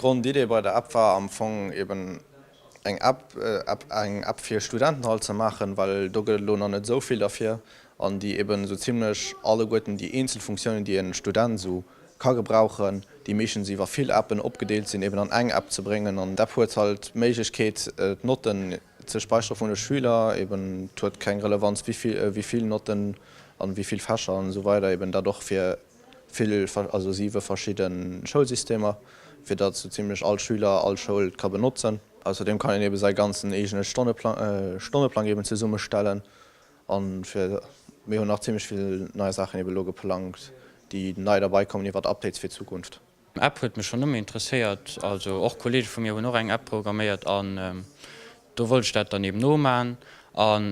D'Grondidee bei der App war am Fong eben eng App, App, eng App fir Studentenhall ze maachen, well do gëtt et elo nach net esou vill derfir, an déi eben esou zimlech alleguerten déi eenzel Funktiounen, déi en Student esou ka gebrauchen, déi meeschtens iwwer vill Appen opgedeelt sinn, eben an eng App ze bréngen. An d'App huet halt d'Méiglechkeet d'Notten ze speichere vun de Schüler, eben et huet keng Relevanz wéivill Notten an wéivill Fächer an esou weider, eben dat och fir. vill, also siwe verschidde Schoulsystemer, fir datt esou zimlech all Schüler all Schoul ka benotzen. Ausserdeem kann een eebe säi ganzen eegene Stonneplang eeben zesummestellen an fir, mir hunn nach zimlech vill nei Saachen eebe elo geplangt, déi nei derbeikommen iwwert Updates fir d'Zukunft. App huet mech schon ëmmer interesséiert, also och Kollege vu mir hunn och eng App programméiert an do wollt ech dat dann eben nomaan an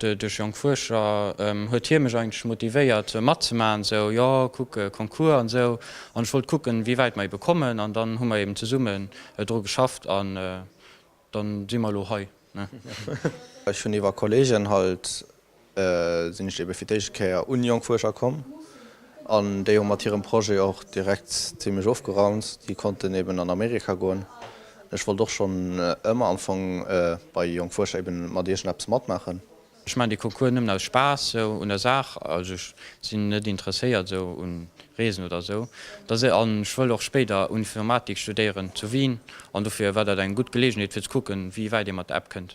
duerch jonk Fuerscher huet hie mech eigentlech motivéiert matzemaachen, esou jo kuck Concours an esou an ech wollt kucken wéi wäit mer eben kommen an dann hu mer eben zesummen dru geschafft an Dann sin mer elo hei, ne? Ech hun iwwer Kollegen halt sin ech eben fir d'éischt Kéier un jonk Fuerscher komm an déi hun mat hirem Projet och direkt zimlech ofgeraunt. Déi konnten eben an Amerika goen. Ech wollt och schon ëmmer am Fong bei jonk Fuerscher eben mat iergendeppes matmaachen. Ech maachen dee Concours nëmmen aus Spaass sou un der Saach, also ech sinn net interesséiert sou un Reesen oder sou, da se an ech wëll och spéider Unfirmatik studéieren zu Wien an dofir war dat eng gutt Geleegenheet fir ze kucken wéi wäit ee mat der App kënnt.